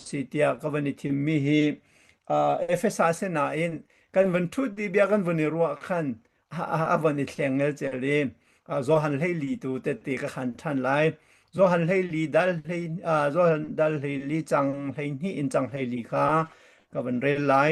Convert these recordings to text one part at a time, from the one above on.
Si tiah ka van i thimmi hi Efesa si nain kan van ṭhut i bia kan van i ruah khan a van i thlengel cer i Johan hleili tu tette ka khan ṭhan lai. Johan hleili dal hlei Johan dal hleili cang hleihnih in cang hleili kha ka van rel lai.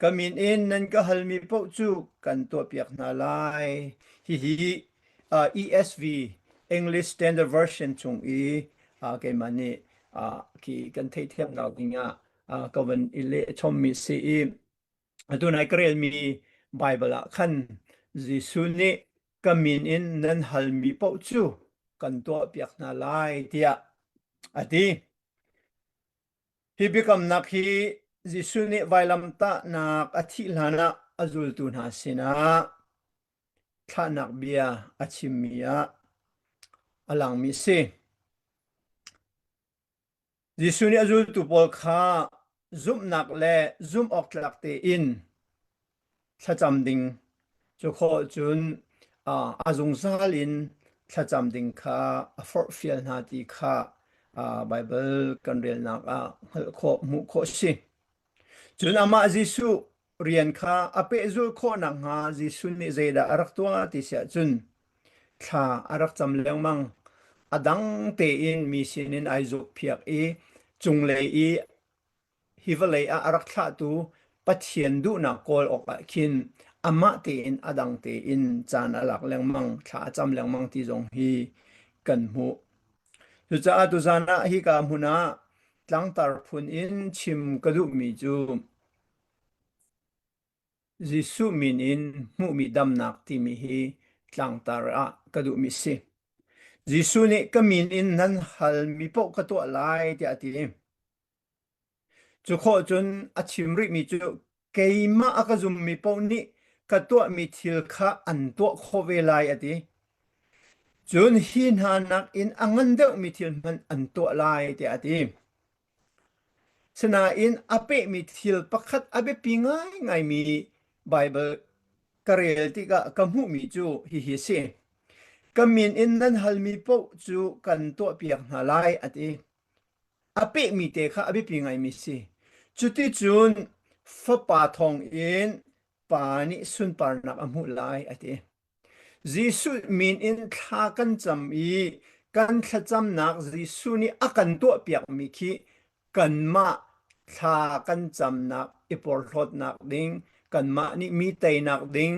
Ka min in nan ka halmi paoh cu kan tuahpiak hna lai. Hihi uh, ESV English Standard Version chung i uh, keimah nih uh, khi kan theithiam ko dingah uh, ka van i leh chommi si i atu nai ka relmi Bible ah khan Jesuh nih ka min in nan halmi paoh cu kan tuahpiak hna lai tiah a ti. Hi biakamnak hi Jesuh nih vailamtahnak a thih hlanah a zultu hna sinah thlahnak bia a chimmi ah a langmi a si. Jesuh nih a zultu pawl kha zumhnak le zumh awk tlak tein thlacam ding. Cu khawh cun a zungzal in thlacam ding kha a forhfial hna ti kha Baibal kan relnak ah hngalh khawh, hmuh khawh si. Cun amah Jesuh rian kha a pehzul khawh nakhnga Jesuh nih zeidah a rak tuah ti siah cun thla a rak cam lengmang. A dang tein mi sinin ai zukphiak i cunglei i Hi vawlei ah a rak thlahtu Pathian duhnak kawl awkah khin amah tein a dang tein caan a lak lengmang, thla a cam lengmang ti zong hi kan hmuh. Cucaah tuzan ah hika hmun ah tlangtar phun in chim ka duhmi cu Jesuh min in hmuhmi damnak timi hi tlangtar ah ka duhmi a si. Jesuh nih ka min in nan hal mi paoh ka tuah lai tiah a ti. Cu khawh cun a chim rihmi cu keimah a ka zummi paoh nih ka tuahmi thil kha an tuah khawh ve lai a ti. Cun hi hna nakin a ngan deuhmi thil hmanh an tuah lai tiah a ti. Sinain a pehmi thil pakhat a biapi ngaingaimi Baibal ka rel tikah ka hmuhmi cu hihi a si. Ka min in nan halmi paoh cu kan tuahpiak hna lai a ti. a pehmi te kha a biapi ngaimi si. Cuticun fapa thawngin pa nih sunparnak a hmuh lai a ti. Jesuh min in thla kan cam i kan thlacamnak Jesuh nih a kan tuahpiakmi khi kanmah thla kan camnak i porhlawtnak ding, kanmah nih mi teinak ding,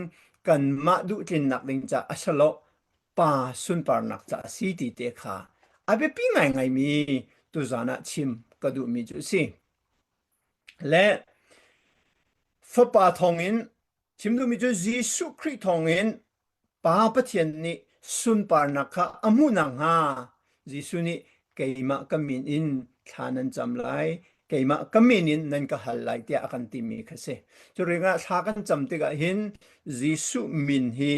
kanmah duhtlinnak ding caah a si lo. pa sunparnak ca a si ti te kha a biapi ngaingaimi tuzan ah chim ka duhmi cu a si. Le fapa thawngin chim duhmi cu Jesuh Khrih thawngin Pa Pathian nih sunparnak kha a hmuh nakhnga Jesuh nih keimah ka min in thla nan cam lai keimah ka min in nan ka hal lai tiah a kan timi kha si cu ringah thla kan cam tikah hin Jesuh min hi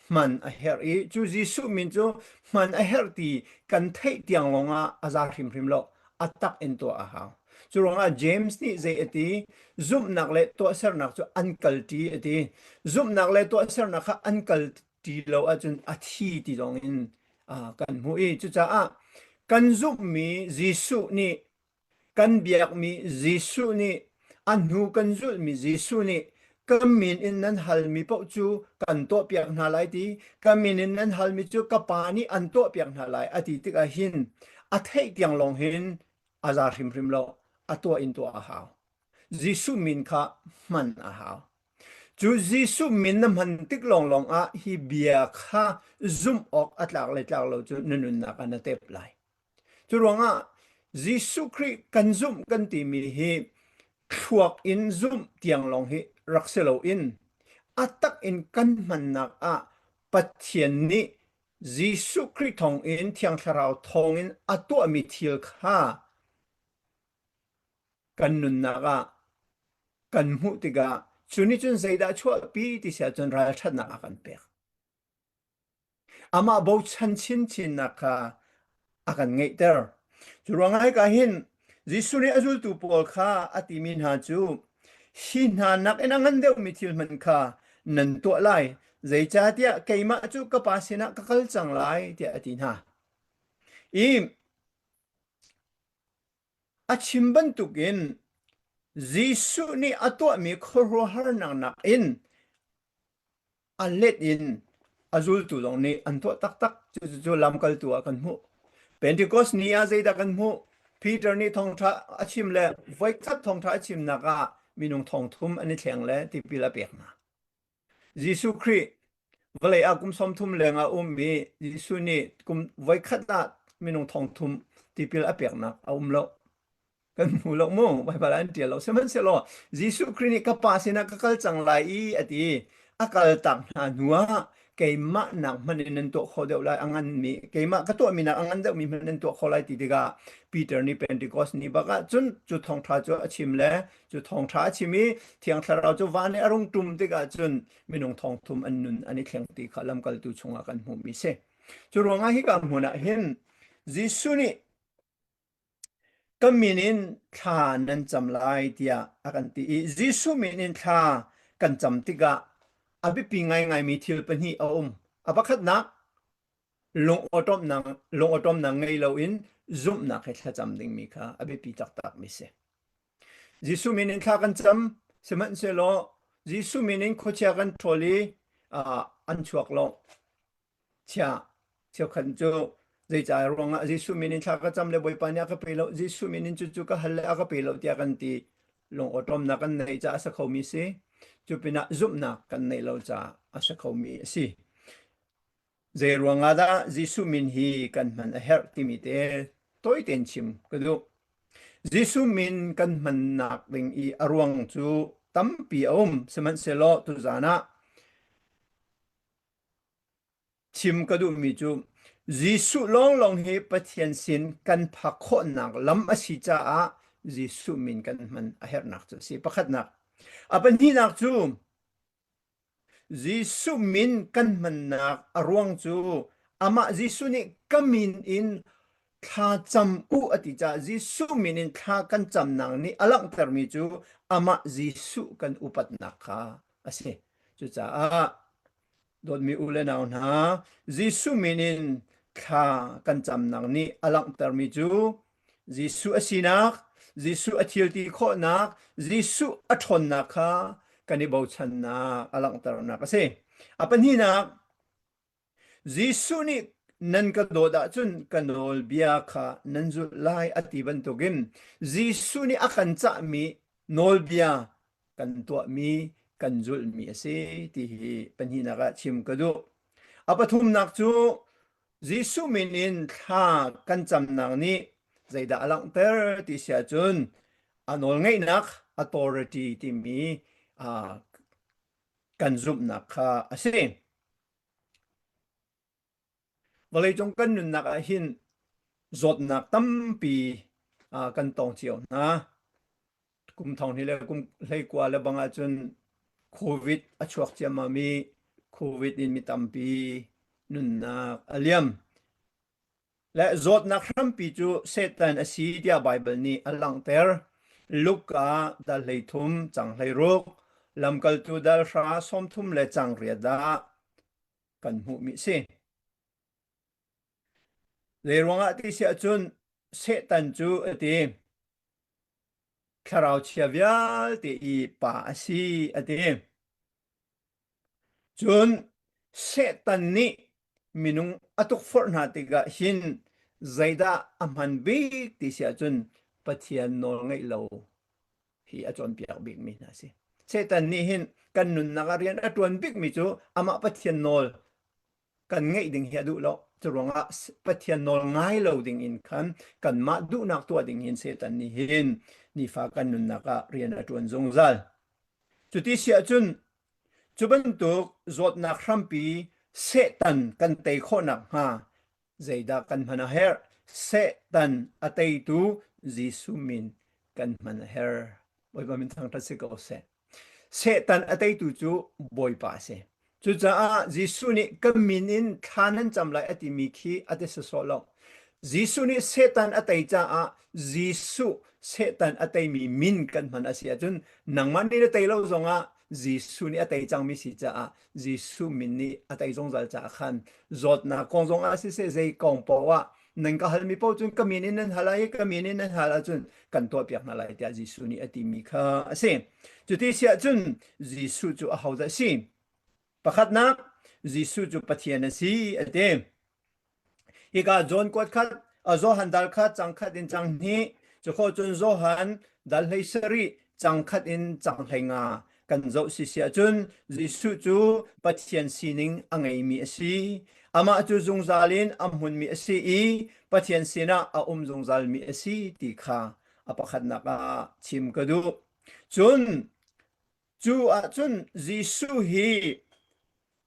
hman a herh i cu Jesuh min cu hman a herh ti kan theih tiang lawngah a za hrimhrim lo a tak in tuah a hau cu ruangah James nih zei a ti zumhnak le tuahsernak cu an kalṭi a ti zumhnak le tuahsernak kha an kal ti lo ahcun a thi ti zong in kan hmuh i cucaah kan zumhmi Jesuh nih kan biakmi Jesuh nih a hnu kan zulhmi Jesuh nih ka min in nan halmi paoh cu kan tuahpiak hna lai ti ka min in nan halmi cu ka pa nih an tuahpiak hna lai a ti tikah hin a theih tiang lawng hin a za hrimhrim lo a tuah in tuah a hau Jesuh min kha hman a hau Cu Jesuh min na hman tik lawnglawng ah hi bia kha zumh awk a tlak le tlak lo cu na nunnak ah na tep lai. Cu ruangah Jesuh Khrih kan zumh kan timi hi thluak in zumh tiang lawng hi rak si loin a tak in kan hmannak ah Pathian nih Jesuh Khrih thawng in Thiang Thlarau thawng in a tuahmi thil kha kan nunnak ah kan hmuh tikah cu nih cun zeidah a chuahpi ti si ahcun ralṭhatnak a kan pek. Amah bochan chinchinnak kha a kan ngeihter. Cu ruangah hika hin Jesuh nih a zultu pawl kha a timi hna cu hi hna nakin a ngan deuhmi thil hmanh kha nan tuah lai, zeicahtiah keimah cu ka Pa sinah ka kal cang lai, tiah a ti hna. I A chim bantukin Jesuh nih a tuahmi khuaruahharnak nakin a let in a zultu zong nih an tuah taktak. Cucu lamkaltu ah kan hmuh. Pentecost ni ah zeidah kan hmuh? Peter nih thawngṭha a chim le voikhat thawngṭha a chimnak ah minung thong thum an i thleng le tipil a pek hna. Jesuh Khrih vawlei ah kum sawmthum lengah a um i Jesuh nih kum voikhat ah minung thongthum tipil a peknak a um lo. Kan hmu lo mu, vaivai an ṭial lo. Sihmanhsehlaw Jesuh Khrih nih ka Pa sinah ka kal cang lai i a ti. A kaltak hna hnuah keimah nak hmanh in nan tuah khawh deuh lai a nganmi keimah ka tuahmi nak a ngan deuhmi hmanh nan tuah khawh lai ti tikah Peter nih Pentecost ni bak ah cun cu thawngṭha cu a chim le cu thawngtha a chim i thiang thlarau cu van i a rung tum tikah cun minung thawngthum an nun an i thleng ti kha lamkaltu chungah kan hmuhmi si cu ruangah hika hmun ah hin Jesuh nih kan min in thla nan cam lai tiah a kan ti i Jesuh min in thla kan cam tikah a biapi ngaingaimi thil pahnih a um a pakhatnak lungawṭawmnak lungawṭawmnak ngei loin zumhnak he thlacam dingmi kha a biapi taktakmi si Jesuh min in thla kan cam, sihmanhsehlaw Jesuh min in khuachia kan ṭhawl i an chuak lo. Chia, cheukhat cu zeicah ruangah Jesuh min in thla ka cam le Bawipa nih a ka pe lo, Jesuh min in cucu ka hal le a ka pe lo tiah kan ti lungawṭawmnak kan nei caah a si khomi si. Cu pinah zumhnak kan nei lo caah a si khomi a si. Zeiruangah dah Jesuh min hi kan hman a herh timi te tawi tein chim ka duh. Jesuh min kan hmannak ding i a ruang cu tampi a um. Sihmanhsehlaw tuzan ah chim ka duhmi cu Jesuh lawnglawng hi Pathian sin kan phak khawhnak lam a si caah Jesuh min kan hman a herhnak cu a si. Pakhatnak, a pahnihnak cu Jesuh min kan hmannak a ruang cu amah Jesuh nih ka min in thla cam u a ti caah Jesuh min in thla kan camnak nih a langhtermi cu amah Jesuh kan upatnak kha a si. Cucaah dawtmi u le nau hna, Jesuh min in thla kan camnak nih a langhtermi cu Jesuh a sinak, Jesuh a thilti khawhnak, Jesuh a ṭhawnnak kha kan i bochannak a langhternak a si. A pahnihnak, Jesuh nih nan ka dawt ahcun ka nawlbia kha nan zulh lai a ti bantukin Jesuh nih a kan cahmi nawlbia kan tuahmi, kan zulhmi a si ti hi pahnihnak ah chim ka duh. A pathumnak cu Jesuh min in thla kan camnak nih zeidah a langhter ti si ahcun a nawlngeihnak authority timi uh, kan zumhnak kha a si. Vawleicung kan nunnak ah hin zawtnak tampi uh, kan tong cio hna. kum thong hnih le kum hleikua le bang ahcun covid a chuak ciammam i covid in mi tampi nunnak a liam le zawtnak hrampi cu satan a si tiah bible nih a langhter luka dal hlei thum chang hlei ruk lamkaltu dal hra som thum le chang ria dah kan hmuh mi si Zeiruangah ti si ahcun Satan cu a ti thlarau chia vialte i pa a si a ti. Cun Satan nih minung a tukforh hna tikah hin zeidah a hman bik ti si ahcun Pathian nawl ngaih lo hi a cawnpiak bikmi hna a si. Satan nih hin kan nunnak ah rian a ṭuan bikmi cu amah Pathian nawl kan ngeih ding hi a duh lo. Curuangah Pathian nawl ngai lo ding in khan kanmah duhnak tuah ding hin Satan nih hin nifa kan nunnak ah rian a ṭuan zungzal. Cuti si ahcun cu bantuk zawtnak hrampi Satan kan tei khawh nakhnga zeidah kan hman a herh? Satan a teitu Jesuh min kan hman a herh. Bawipa min thangṭhat si ko seh. Satan a teitu cu Bawipa a si. Cucaah Jesuh nih kan min in thla nan cam lai a timi khi a ti sawsawh lo. Jesuh nih Satan a tei caah Jesuh Satan a teimi min kan hman a si ahcun nangmah nih na tei lo zongah Jesuh nih a tei cangmi si caah Jesuh min nih a tei zungzal caah khan zawtnak kong zongah siseh zei kong paoh ah Nan ka hal mi paoh cun ka min in nan hal i ka min in nan hal ahcun kan tuahpiak hna lai tiah Jesuh nih a ti mi kha a si. Cuti si ahcun Jesuh cu ahodah a si? Pakhatnak, Jesuh cu Pathian a si a ti. Hika John kuat khat, a Johan dal kha cang khat in cang hnih, cu kho cun Johan dal hlei sarih cang khat in cang hlei nga, Kan zoh sisi ahcun Jesuh cu Pathian sining a ngeimi a si. Amah cu zungzal in a hmunmi a si i Pathian sinah a um zungzalmi a si ti kha a pakhatnak ah chim ka duh. Cun cu ahcun Jesuh hi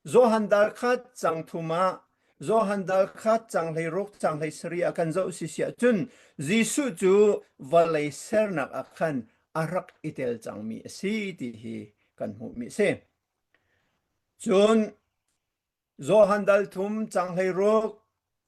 Johan Darkhat cang thum ah Johan Darkhat cang hleiruk cang hleisarih a kan zoh si siah cun Jesuh cu vawlei sernak ah khan a rak i tel cangmi a si ti hi kan hmuhmi a si. Cun Johan dal thum cang hleiruk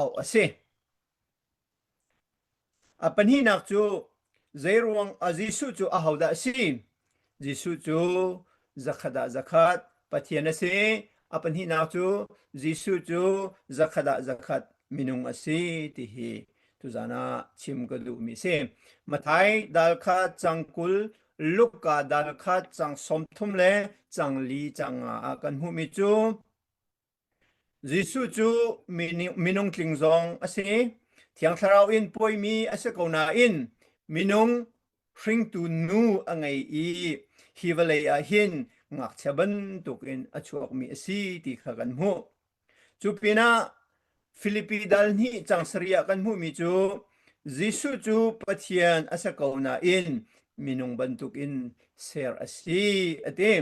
auh a si. A pahnihnak cu zeiruang a Jesuh cu ahodah a si? Jesuh cu zakhat ah zakhat Pathian a si. A pahnihnak cu Jesuh cu zakhat ah zakhat minung a si ti hi tuzan ah chim ka duhmi si. Mathai dal kha cang kul, Luka dal kha cang sawmthum le cang li cang nga ah kan hmuhmi cu Jesuh cu minung tling zong a si. Thiang Thlarau in puaimi a si ko nain minung hringtu nu a ngei i hi vawlei ah hin ngakchia bantuk in a chuakmi a si ti kha kan hmuh. Cu pinah Filipi dal hnih cang sarih ah kan hmuhmi cu Jesuh cu Pathian a si ko nain minung bantuk in ser a si a ti.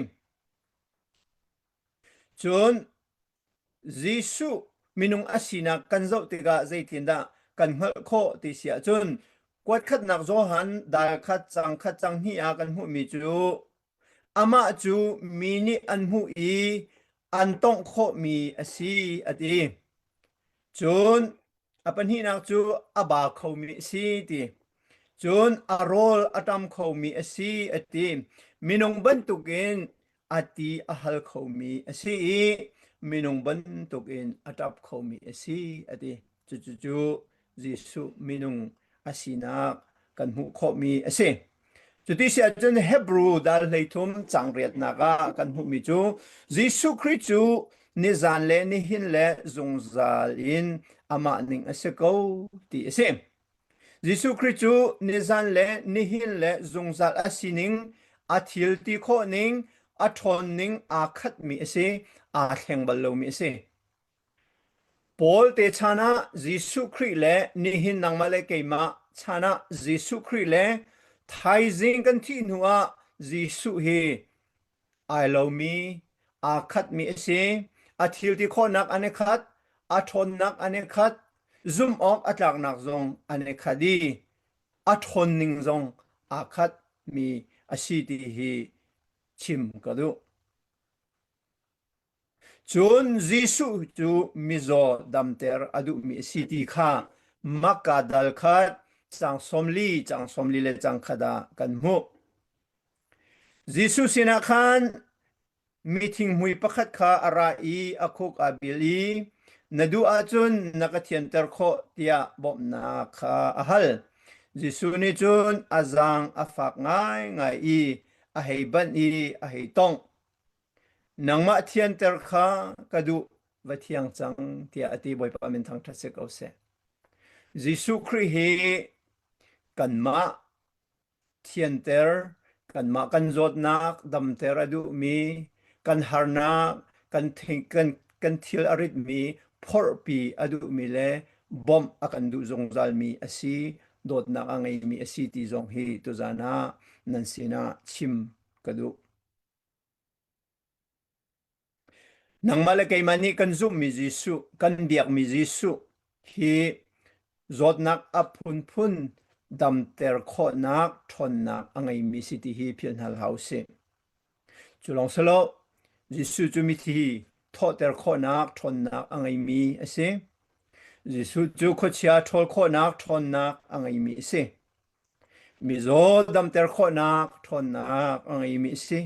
Cun Jesuh minung a sinak kan zoh tikah zeitindah kan hngalh khawh ti si ahcun kuatkhatnak Johan dal khat cang khat cang hnih ah kan hmuhmi cu amah cu mi nih an hmuh i an tawngh khawhmi a si a ti. Cun a pahnihnak cu a ba khomi a si ti cun a rawl a tam khomi a si a ti minung bantukin a ti a hal khomi a si i minung bantukin a ṭap khomi a si a ti cucu cu Jesuh minung a sinak kan hmuh khawhmi a si Cuti si ahcun Hebrew dal hleithum changriatnak ah kan hmuhmi cu Jesuh Khrih cu nizan le nihin le zungzal in amah ning a si ko ti a si. Jesuh Khrih cu nizan le nihin le zungzal a sining, a thil ti khawh ning, a ṭhawn ning aa khatmi a si, aa thleng bal lomi a si. Paul te chan ah Jesuh Khrih le nihin nangmah le keimah chan ah Jesuh Khrih le thaizing kan thih hnu ah Jesuh hi ai lomi, aa khatmi a si. A thilti khawhnak an i khat, a ṭhawnnak an i khat, zumh awk a tlaknak zong an i khat i a ṭhawn ning zong aa khatmi a si ti hi chim ka duh. Cun Jesuh cu mizaw damter a duhmi a si ti kha makka dal khat cang sawm li, cang sawm li le cang khat ah kan hmuh. Jesuh sinah khan mi thinghmui pakhat kha a ra i a khuk aa bil i na duh ahcun na ka thianter khawh tiah bawmhnak kha a hal. Jesuh nih cun a zaang a fak ngaingai i a hei banh i a hei tongh. Nangmah thianter kha ka duh va thiang cang tiah a ti Bawipa min thangṭhat si ko seh. Jesuh Khrih hi kanmah thianter, kanmah kan zawtnak damter a duhmi, kan harnak, kan, kan, kan thil a ritmi, phorhpi a duhmi le bawmh a kan duh zungzalmi a si, dawtnak a ngeimi a si ti zong hi tuzan ah nan sinah chim ka duh. Nangmah le keimah nih kan zumhmi Jesuh, kan biakmi Jesuh hi zawtnak a phunphun damter khawhnak ṭhawnnak a ngeimi si ti hi philhhal hau u si. Cu lawng si lo, Jesuh cu mithi thawhter khawhnak ṭhawnnak a ngeimi a si. Jesuh cu khuachia ṭhawl khawhnak ṭhawnnak a ngeimi a si. Mizaw damter khawhnak ṭhawnnak a ngeimi a si.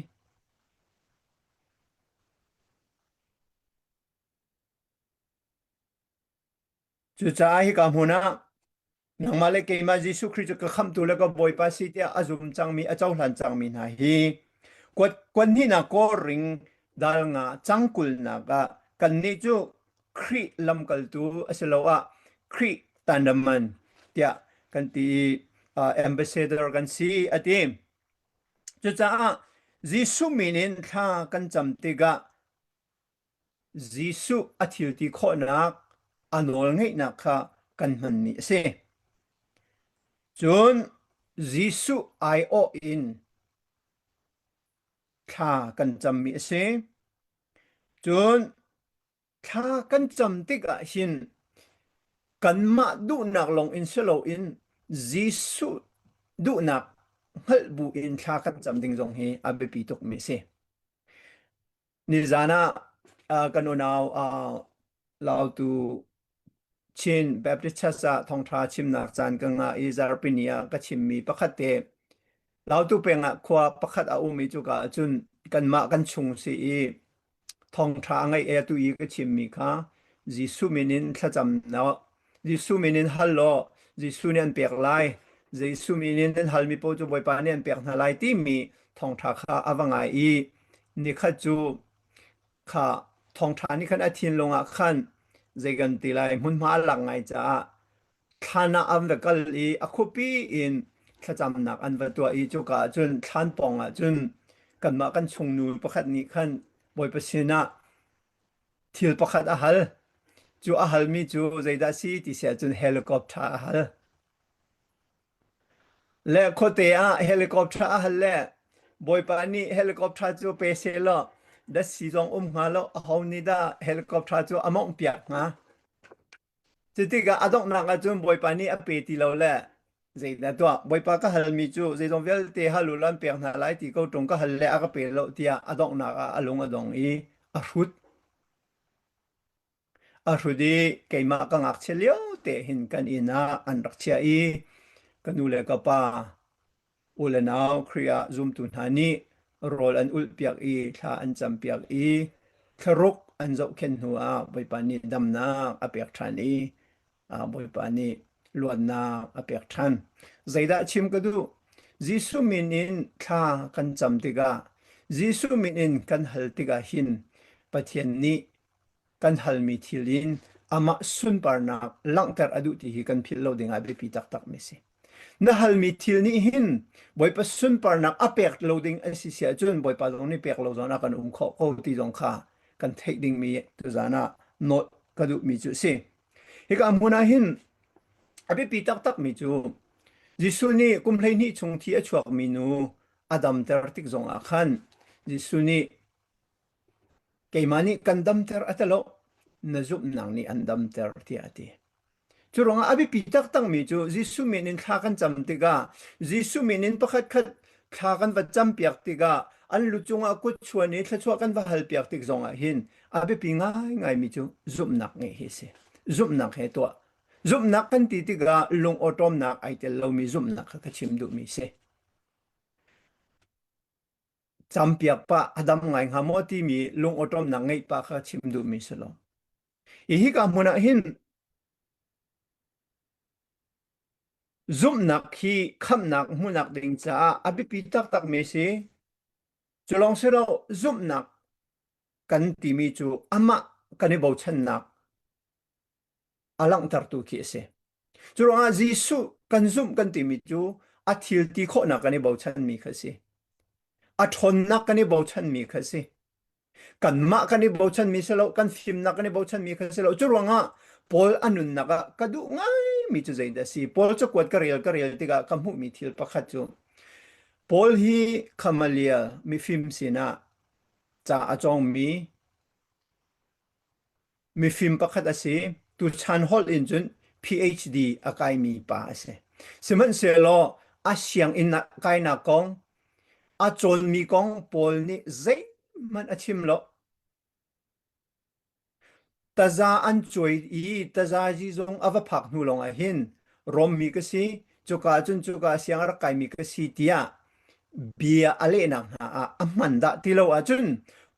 Cucaah hika hmun ah nangmah le keimah Jesuh Khrih cu ka khamtu le ka Bawipa si tiah a zum cangmi, a cohlan cangmi hna hi kuat kuanhnihnak kawr ring dal nga cangkulnak ah kannih cu Khrih lamkaltu asiloah Khrih tanaman tiah kan ti ambassador kan si a ti. Cucaah Jesuh min in thla kan cam tikah Jesuh a thilti khawhnak a nawl ngeihnak kha kan hmanmi a si. Cun Jesuh aiawh in thla kan cammi a si. Cun thla kan cam tikah hin kanmah duhnak lawngin si loin Jesuh duhnak hngalh buin thla kan cam ding zong hi a biapi tukmi a si. Nizan ah kan unau uh, Lautu Chin Baptist Church ah thawngṭha chimnak caan ka ngah i zarhpini ah ka chimmi pakhat te Lautu peng ah khua pakhat a um i cuka ah cun kanmah kan chung si i thawngṭha a ngaih e tu i ka chimmi kha Jesuh min in thlacam law Jesuh min in hal law Jesuh nih an pek lai Jesuh min in nan hal mi pawl cu Bawipa nih an pek hna lai timi thawngṭha kha a va ngai i nikhat cu kha thawngṭha nih khan a thinlung ah khan zei kan ti lai hmunhma a lak ngai caah thlan ah an va kal i a khuapi in thlacamnak an va tuah i cuka ah cun thlan pawng ah cun kanmah kan chungnu pakhat nih khan bawipa sinah thil pakhat a hal cu a halmi cu zeidah a si ti sia cun helicopter a hal Le khuate ah helicopter a hal le Bawipa nih helicopter cu pe seh law dat si zong um hnga lo aho nih dah helicopter cu a mawngh piak hnga? Cutikah a donghnak ahcun Bawipa nih a pe ti lo le zeidah tuah Bawipa ka halmi cu zeizong vialte hal u law an pek hna lai ti ko ṭung ka hal le a ka pe lo tiah a donghnak ah a lung a dong i a hrut. A hrut i keimah ka ngakchia lio te hin kan inn ah an rak chiah i ka nu le ka pa, u le nau, Khrih ah zumtu hna nih rawl an ulhpiak i thla an campiak i thlaruk an zohkhenh hnu ah Bawipa nih damnak a pek ṭhan i Bawipa nih luatnak a pek ṭhan. Zeidah chim ka duh? Jesuh min in thla kan cam tikah, Jesuh min in kan hal tikah hin Pathian nih kan halmi thil in amah sunparnak langhter a duh ti hi kan philh lo dingah biapi taktakmi a si. Na halmi thil nih hin Bawipa sunparnak a pek lo ding a si si ahcun Bawipa zong nih pek lo zawn ah kan um khawh ko ti zong kha kan theih dingmi tuzan ah note ka duhmi cu a si. Hika hmun ah hin a biapi taktakmi cu Jesuh nih kum hleihnih chung thi a chuakmi nu a damter tik zong ah khan Jesuh nih Keimah nih kan damter a tilo. Na zumhnak nih an damter tiah a ti. Cu ruangah a biapi taktakmi cu Jesuh min in thla kan cam tikah Jesuh min in pakhatkhat thla kan va campiak tikah an lu cungah kutchuan i thluachuah kan va halpiak tik zongah hin a biapi ngaingaimi cu zumhnak ngeih hi a si. Zumhnak he tuah. Zumhnak kan ti tikah lungawṭawmnak ai tel lomi zumhnak kha ka chim duhmi a si. campiak pa a dam ngai hnga maw timi lungawṭawmnak ngeih pa kha chim duhmi si lo. Hi hika hmun ah hin zumhnak hi khamhnak hmuhnak ding caah a biapi taktakmi si. Cu lawng si lo zumhnak kan timi cu amah kan i bochannak a langhtertu khi a si. Curuangah Jesuh kan zumh kan timi cu a thil ti khawhnak kan i bochanmi kha si. A ṭhawnnak kan i bochanmi kha si. Kanmah kan i bochanmi si lo, kan fimnak kan i bochanmi kha si lo. Curuangah Paul a nunnak ah ka duh ngaimi cu zeidah a si? Paul cakuat ka rel ka rel tikah ka hmuhmi thil pakhat cu Paul hi Gamaliel mifim sinah ca a cawngmi Mifim pakhat a si. Tuchan holh in cun PhD a kaimi pa a si. Sihmanhsehlaw a sianginn ah kainak kong, a cawnmi kong pawl nih zeihmanh a chim lo. Taza an cuai i tazazi zong a va phak hnu lawng ah hin Rom mi ka si, cuka cun cuka siang a rak kaimi ka si tiah Bia a lehnak hna ah a hman dah ti lo ahcun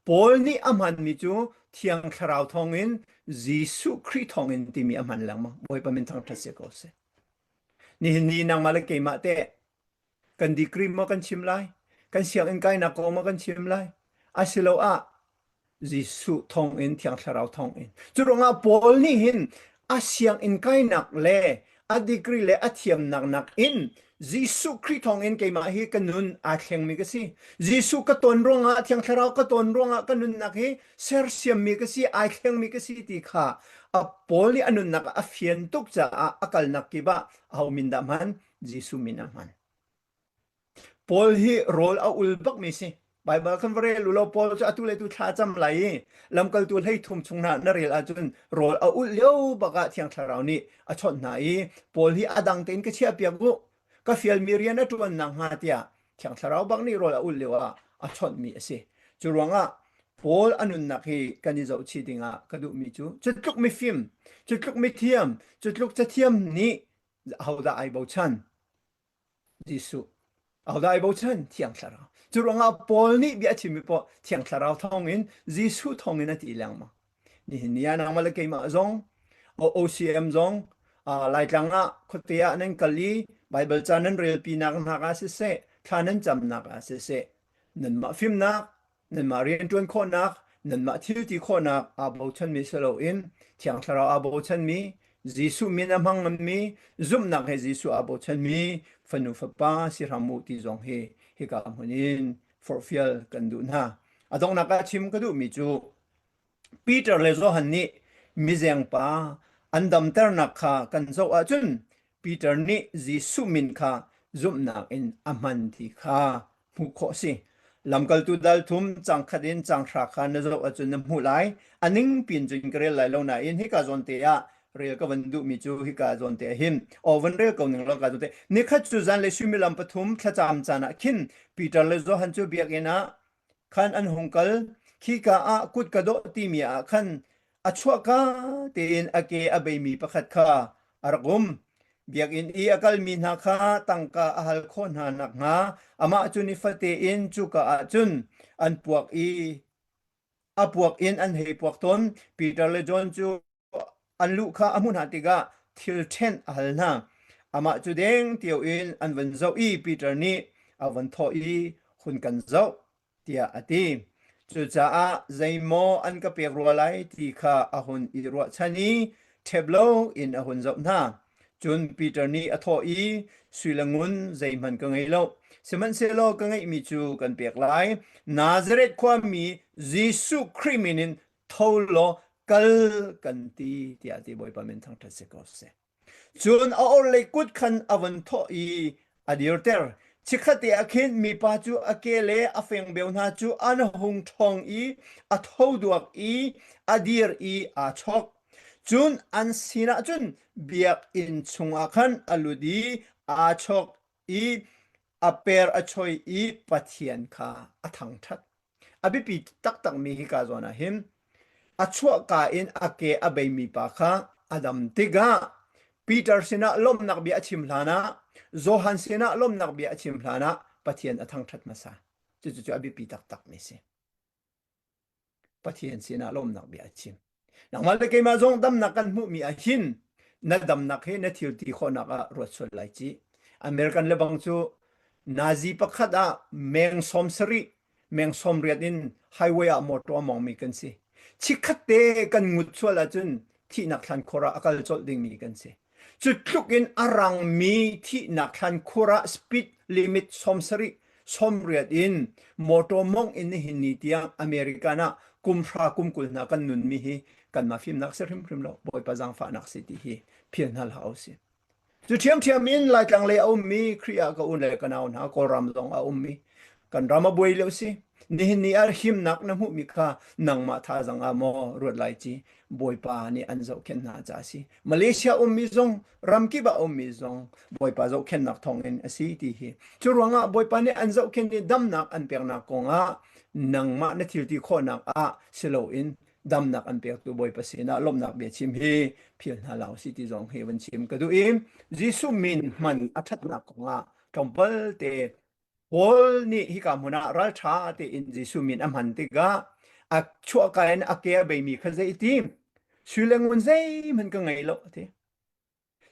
Paul nih a hmanmi cu Thiang Thlarau thawngin Jesuh Khrih thawngin timi a hman lengmang. Bawipa min thangṭhat sia ko seh. Nihin ni nangmah le keimah teh kan decree maw kan chim lai? Kan sianginn kainak kong maw kan chim lai? Asiloah Jesuh thawngin thiang thlarau thawngin. Cu ruangah Paul nih hin a sianginn kainak le a degree le a thiamnak nakin Jesuh Khrih thawngin keimah hi ka nun aa thlengmi ka si. Jesuh ka ton ruangah, thiang thlarau ka ton ruangah ka nunnak hi sersiammi ka si, ai thlengmi ka si ti kha a Paul nih a nunnak ah a fian tuk caah a kalnak kip ah aho min dah hman? Jesuh min ah hman. Paul hi rawl a ul bakmi si. Baibal kan va rel u law Paul cu atu le tu thlacam lai i lamkaltu hleithum chung na na rel ahcun rawl a ulh lio bak ah Thiang Thlarau nih a chawnh hna i Paul hi a dang tein ka chiahpiak u ka fialmi rian a ṭuan nakhnga tiah Thiang Thlarau bak nih rawl a ulh lio ah a chawnhmi a si. Cu ruangah Paul a nunnak hi kan i zohchih dingah ka duhmi cu cutluk mifim, cutluk mithiam, cutluk cathiam nih ahodah ai bochan? Jesuh ahodah i bochan? Thiang Thlarau. Curuangah Paul nih bia a chimmi paoh Thiang Thlarau thawngin Jesuh thawngin a ti lengmang. Nihin ni ah nangmah le keimah zong OCM zong Laitlang ah khuate ah nan kal i Baibal ca nan relpinak hnak ah siseh, thla nan camnak ah siseh, nanmah fimnak Nanmah rianṭuan khawhnak, nanmah thilti khawhnak aa bochanmi si loin Thiang Thlarau aa bochanmi, Jesuh min a hmang nganmi, zumhnak he Jesuh aa bochanmi Fanu Fapa si hram u ti zong hi hika hmun in forhfial kan duh hna. A donghnak ah chim ka duhmi cu Peter le Johan nih mizeng pa an damternak kha kan zoh ahcun Peter nih Jesuh min kha zumhnak in a hman ti kha hmuh khawh a si. Lamkaltu dalthum cangkhat in canghra kha na zoh ahcun na hmuh lai. A ning pin cun ka rel lai lo nain hika zawnte ah rel ka van duhmi cu hika zawnte ah hin aw van rel ko ning law ka zawnte. Nikhat cu zan le suimilam pathum thlacam caan ah khin Peter le Johan cu biakinn ah khan an hung kal khika ah kut ka dawh timi ah khan a chuahka tein a ke a beimi pakhat kha a rak um biakinn i a kalmi hna kha tangka a hal khawh hna nakhnga amah cu nifate in cuka ah cun an puak i a puak in an hei puak tawn Peter le John cu an lu kha a hmuh hna tikah thil ṭhenh a hal hna. Amah cu deng tio in an van zoh i Peter nih a van thawh i hun kan zoh tiah a ti. Cucaah zeimaw an ka pek rua lai ti kha a hun i ruahchan i ṭhep lo in a hun zoh hna. Cun Peter nih a thawh i, Sui le ngun zeihmanh ka ngei lo, sihmanhsehlaw ka ngeihmi cu kan pek lai. Nazareth khuami Jesuh Khrih min in tho law kal kan ti tiah ti bawipa min thang ṭhat si ko seh cun a orhlei kut khan a van thawh i a dirter chikhate a khin mipa cu a ke le a fengbeu hna cu an hung ṭhong i a thoduak i a dir i aa chok cun an sinah cun biakinn chungah khan a lut i aa chok i a per a choi i Pathian kha a thangṭhat. A biapi taktakmi hika zawn ah hin a chuahka in a ke a beimi pa kha a dam tikah Peter sinah lawmhnak bia a chim hlanah Johan sinah lawmhnak bia a chim hlanah Pathian a thangṭhat hmasa. Cucu cu a biapi taktakmi a si. Pathian sinah lawmnak bia a chim. Nangmah le keimah zong damnak kan hmuhmi ah hin na damnak he na thil ti khawhnak ah ruat sual lai ci. American lebang cu Nazi pakhat ah meng sawm sarih meng sawm riat in highway ah motor mongmi kan si. Chikkhat te kan ngut sual ahcun thihnak thlan khor ah a kal colh dingmi kan si. Cutluk in a rangmi thihnak thlankhur ah speed limit sawm sarih sawm riat in motor mawngh in nihin ni tiang American ah kumhra kum kul hna kan nunmi hi kanmah fimnak si hrimhrim lo Bawipa zangfahnak si ti hi phil hna hlah u si. Cu ṭhiamṭhiam in Laitlang lei a ummi Khrih ah ka u le ka nau hna Kawlram zong a ummi kan ram a buai leo si nihin ni ar himnak na hmuhmi kha nangmah tha zang ah maw ruat lai ci Bawipa nih an zohkhen hna ca si Malaysia ummi zong ramkip ah ummi zong Bawipa zohkhennak thawngin a si ti hi. Cu ruangah Bawipa nih an zohkhen i damnak an peknak kongah nangmah na thilti khawhnak ah si loin damnak an pektu Bawipa sinah lawmhnak bia chim hi phil hna law si ti zong hi van chim ka duh i Jesuh min hman a ṭhatnak kongah tlawmpal te Paul nih hika hmun ah ralṭha tein Jesuh min a hman tikah a chuahka in a ke a beimi kha zei ti sui le ngun zeihmanh ka ngei lo a ti.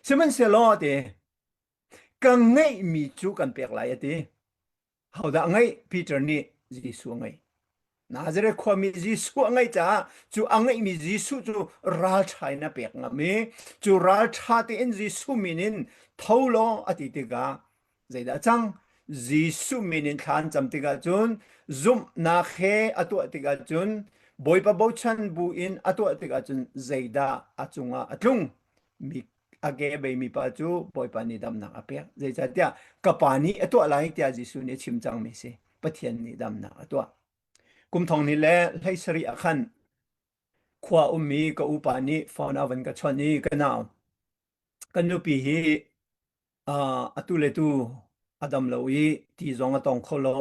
Sihmanhsehlaw a ti, ka ngeihmi cu kan pek lai a ti. Hodah ngeih? Peter nih Jesuh a ngeih. Nazareth khuami Jesuh a ngeih caah cu a ngeihmi Jesuh cu ralṭha in a pek ngam i cu ralṭha tein Jesuh min in tho law a ti tikah zeidah a cang? Jesuh min in thla an cam tikah cun zumhnak he a tuah tikah cun Bawipa bochan bu in a tuah tikah cun zeidah a cungah a tlung? Mi a ke a beimi pa cu Bawipa nih damnak a pek. Zeicahtiah ka pa nih a tuah lai tiah Jesuh nih a chim cangmi a si. Pathian nih damnak a tuah. Kum thong ni le hlei sarih ah khan khua ummi ka upa nih phone ah van ka chawnh i ka nau kan nupi hi uh, atu le tu a dam lo i ti zong a tong kho lo.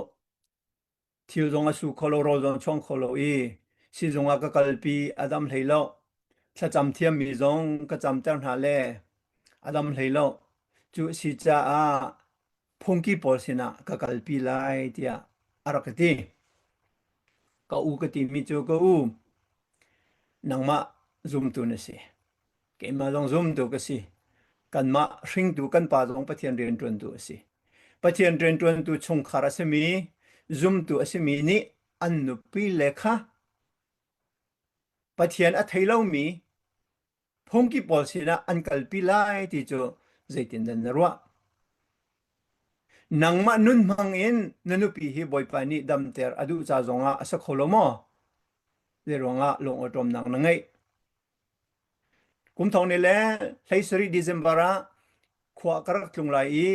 thil zong a su kho lo, rawl zong a chuang kho lo i sizung ah ka kalpi a dam hlei lo. Thlacam thiammi zong ka camter hna le a dam hlei lo. Cu a si caah phungki pawl sinah ka kalpi lai tiah a rak ka ti. Ka u ka timi cu ka u nangmah zumtu na si. Keimah zong zumtuk a si. Kanmah hringtu kan pa zong Pathian rianṭuantu a si. Pathian rianṭuantu chungkhar a simi, zumtu a simi nih an nupile kha Pathian a thei lomi phungki pawl sinah an kalpi lai ti cu zeitindah na ruah? Nangmah nun hmangin na nupi hi Bawipa nih damter a duh ca zongah a si kho lo maw? Zei ruangah lungawṭawmnak na ngeih? Kum thong ni le hlei sarih December ah khua ka rak tlung lai i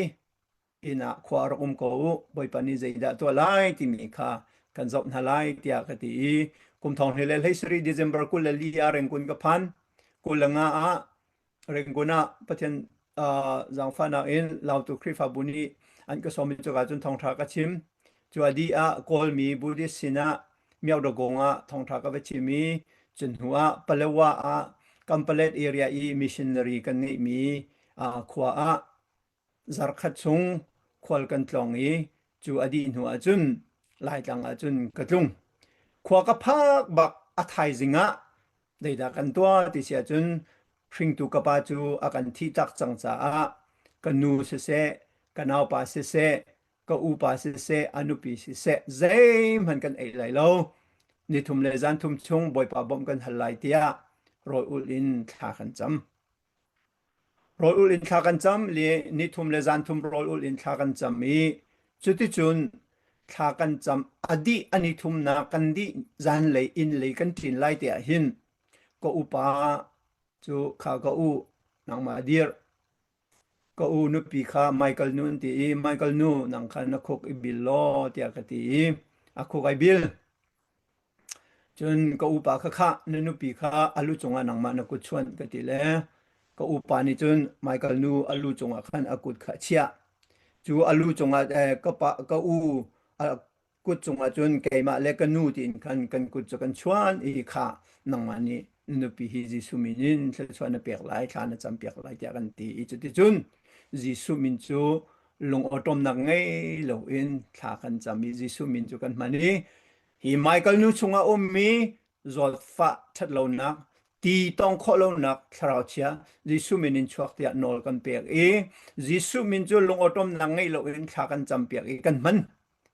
inn ah khua rak um ko u. Bawipa nih zeidah tuah lai timi kha kan zoh hna lai tiah ka ti i kum thong ni le hlei sarih December kul le li ah Rengkun ka phan. Kul le nga ah Rengkun ah Pathian zaangfahnak in lautu Khrihfabu nih an ka sawmi cuka cun thawngṭha ka chim. Cua dih ah Kawlmi Buddhist sinah Myakdagong ah thawngṭha ka va chim i cu hnu ah Palawa ah Kampalet area i missionary kan ngeihmi khua ah zarkhat chung khual kan tlong i cu a dih hnu ah cun Laitlang ah cun ka tlung. Khua ka phak bak a thaizing ah Deidah kan tuah ti si ahcun hringtu ka pa cu a kan thih tak cang caah ka nu siseh, ka naupa siseh, ka upa siseh, a nupi siseh zeihmanh kan ei lai lo. Ni thum le zan thum chung Bawipa bawmh kan hal lai tiah rawl ulh in thla kan cam. rawl ulh in thla kan cam le ni thum le zan thum rawl ulh in thla kan cam i cuticun thla kan cam a dih a ni thumnak kan dih zan lei inn lei kan tlin lai te ah hin ka upa cu kha ka u nangma dir ka u nupi kha Michael nu an ti i Michael nu nang khan na khuk i bil law tiah ka ti i a khuk ai bil Cun ka upa kha khah na nupi kha a lu cungah nangmah na kut chuan ka ti le ka upa nih cun Michael nu a lu cungah khan a kut kha a chiah. Cu a lu cungah eh, ka pa ka u a kut cungah cun keimah le ka nu tiin khan kan kut cu kan chuan i khah nangmah nih nupi hi Jesuh min in thluachuah na pek lai, thla na campiak lai tiah kan ti i cuticun Jesuh min cu lungawṭawmnak ngei loin thla kan cam i Jesuh min cu kan hman i Hi Michael nu chungah a ummi zawtfah ṭhat lonak, ti tawng khawh lonak thlarau chia Jesuh min in chuak tiah nawl kan pek i Jesuh min cu lungawṭawmnak ngeih loin thla kan campiak i kan hman.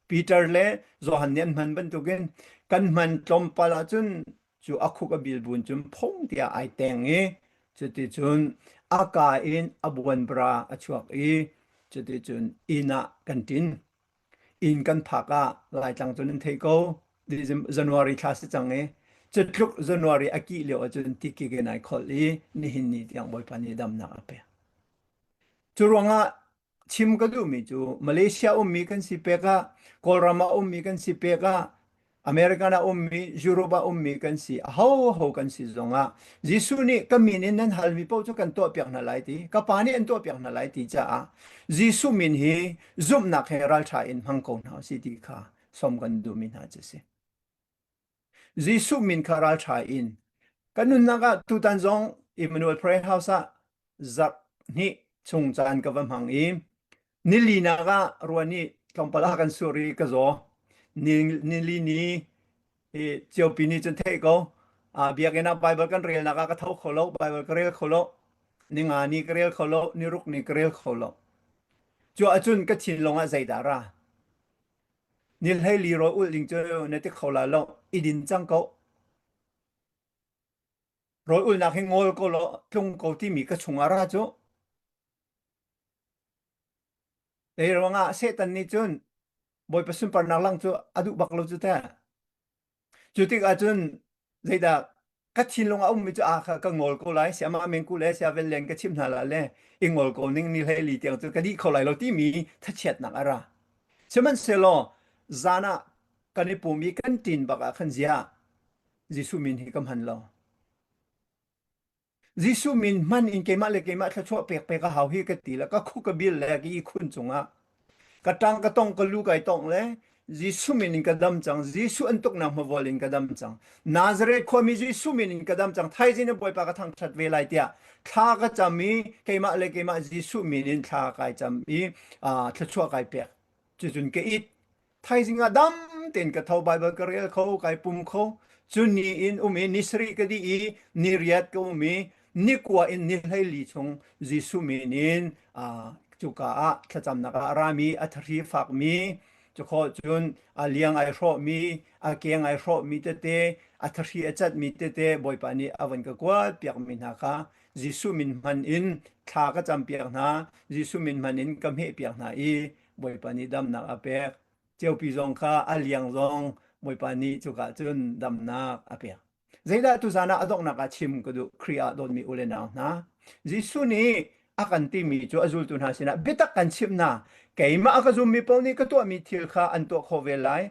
Peter le Johan nih an hman bantukin kan hman tlawmpal ahcun cu a khuk a bil bun cun phung tiah ai teng i cuticun a ka in a buanbra a chuak i cuticun inn ah kan ṭin. inn kan phak ah laitlang cun an thei ko january thla si cang i cutluk january a kih lio ahcun tikikin ai kholh i nihin ni tiang bawipa nih damnak a pek cu ruangah chim ka duhmi cu malaysia ummi kan si pek ah kawlram ah ummi kan si pek ah American a ummi, Europe a ummi kan si, ahoho kan si zongah Jesuh nih ka min in nan halmi paoh cu kan tuahpiak hna lai ti, ka pa nih an tuahpiak hna lai ti caah Jesuh min hi zumhnak he ralṭha in hmang ko hna u si ti kha sawm kan duhmi hna cu a si. Jesuh min kha ralṭha in kan nunnak ah tutan zong Emmanuel Prayer House ah zak hnih chung caan ka va hmang i nilinak ah ruan i tlawmpal ah kan sur i ka zaw nili ni i ciopi ni cun theih ko a biakinn ah bible kan relnak ah ka tho kho lo bible ka rel kho lo ninga ni ka rel kho lo niruk ni ka rel kho lo cu ahcun ka thin lung ah zeidah ra ni hlei li ro ul ding cu na ti kho la lo i din cang ko rawl ulnak hi ngol ko law tlung ko timi ka chungah ra cu Ei ruangah Satan nih cun Bawipa sunparnak lang cu a duh bak lo cu teh. Cu tikah cun zeidah ka thinlung a ummi cu a kha ka ngol ko lai sia amah mengku le sia vel len ka chimh hna la le i ngol ko ning ni hlei li tiang cu ka dih kho lai lo timi thachiatnak a ra. Sihmanhsehlaw zan ah kan i pum i kan ṭin bak ah khan ziah Jesuh min hi ka hman lo. Jesuh min hman in keimah le keimah thluachuah pek pek a hau hi ka ti le ka khu ka bil le ka ihkhun cungah ka tang ka tong ka lu kai tong le Jesuh min in ka dam cang Jesuh an tuknak hmavol in ka dam cang Nazareth khuami Jesuh min in ka dam cang thaizing ne Bawipa ka thangthat ve lai tiah thla ka cam i keimah le keimah Jesuh min in thla kai cam i thluachuah kai pek cuzun ka it thaizing ah dam tein ka tho Bible ka rel kho kai pum kho cu ni in um i ni sari ka di i ni riat ka um i ni kua in ni hleili chung Jesuh min in cuka ah thlacamnak ah rami a thari fakmi cukho cun a liang ai hrawhmi a keng ai hrawhmi tete a thari a catmi tete bawipa nih a van ka kuat piakmi hna kha Jesuh min hman in thla ka campiak hna Jesuh min hman in ka hmeh piak hna i Bawipa nih damnak a pek. Ceupi zong kha a liang zong Bawipa nih cuka cun damnak a pek. Zeidah tuzan ah a donghnak ah chim ka duh Khrih ah dawtmi ule nau hna. Jesuh nih a kan timi cu a zultu hna sinah biatak kan chimh hna. Keimah a ka zummi paoh nih ka tuahmi thil kha an tuah khawh ve lai.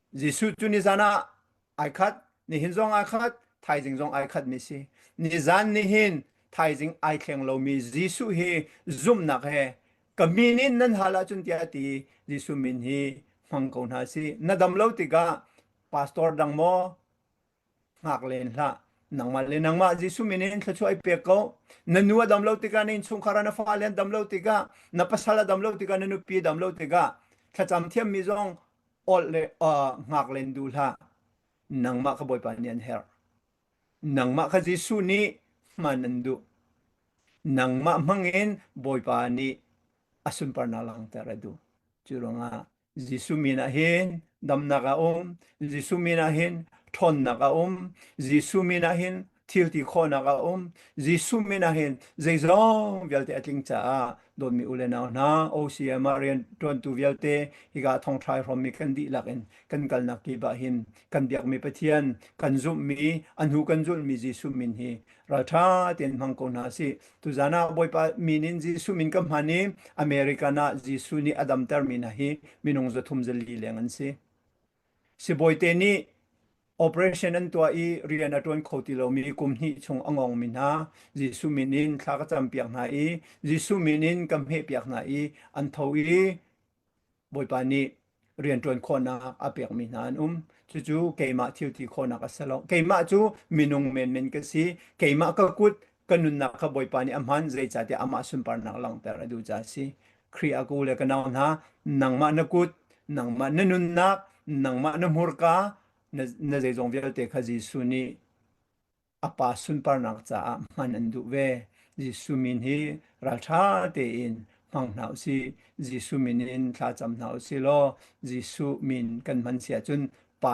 Jesuh cu nizan ah ai khat, nihin zong ai khat, thaizing zong ai khat mi si. Nizan ni hin thaizing ai thleng lomi Jesuh hi zumhnak he ka min in nan hal ahcun tiah ti Jesuh min hi hmang ko hna si. Na dam lo tikah pastor dang maw Ngak len hlah. Nangmah le nangmah Jesuh min in thluachuah i pek ko. Na nu a dam lo tikah, na innchungkhar ah na fale an dam lo tikah, na pasal a dam lo tikah, na nupi a dam lo tikah, thlacam thiammi zong ol le uh, ngak len du hlah. Nangmah ka Bawipa nih an herh. Nangmah kha Jesuh nih hman an duh. Nangmah hmangin Bawipa nih a sunparnak langhter a duh. Cu ruangah Jesuh min ah hin damnak a um. Jesuh min ah hin ṭhawnnak a um. Jesuh min ah hin thilti khawhnak a um. Jesuh min ah hin zeizong vialte a tling caah dawtmi u le nau hna, OCM ah rianṭuantu vialte hika thongthlai hrawmmi kan dihlak in kan kalnak kip ah hin kan biakmi Pathian kan zumhmi, a hnu kan zulhmi Jesuh min hi ralṭha tein hmang ko hna sih. Tuzan ah Bawipa mi nih Jesuh min ka hman i American ah Jesuh nih a damtermi hna hi minung zathum zali leng an si. Sibawi nih operation an tuah i rian a ṭuan kho ti lomi kum hnih chung a ngongmi hna Jesuh min in thla ka campiak hna i Jesuh min in ka hmehpiak hna i an tho i Bawipa nih rianṭuan khawhnak a pekmi hna an um. Cucu keimah thil ti khawhnak a si lo. Keimah cu minung menmen ka si. Keimah ka kut ka nunnak kha Bawipa nih a hman, zeicahtiah amah sunparnak langhter a duh caah a si. Khrih a ku le ka nau hna, nangmah na kut, nangmah na nunnak, nangmah na hmurka, na, na zeizong vialte kha Jesuh nih a pa sunparnak caah hman an duh ve. Jesuh min hi ralṭha tein hmang hna u sih. Jesuh min in thlacam hna u sih law Jesuh min kan hman si ahcun Pa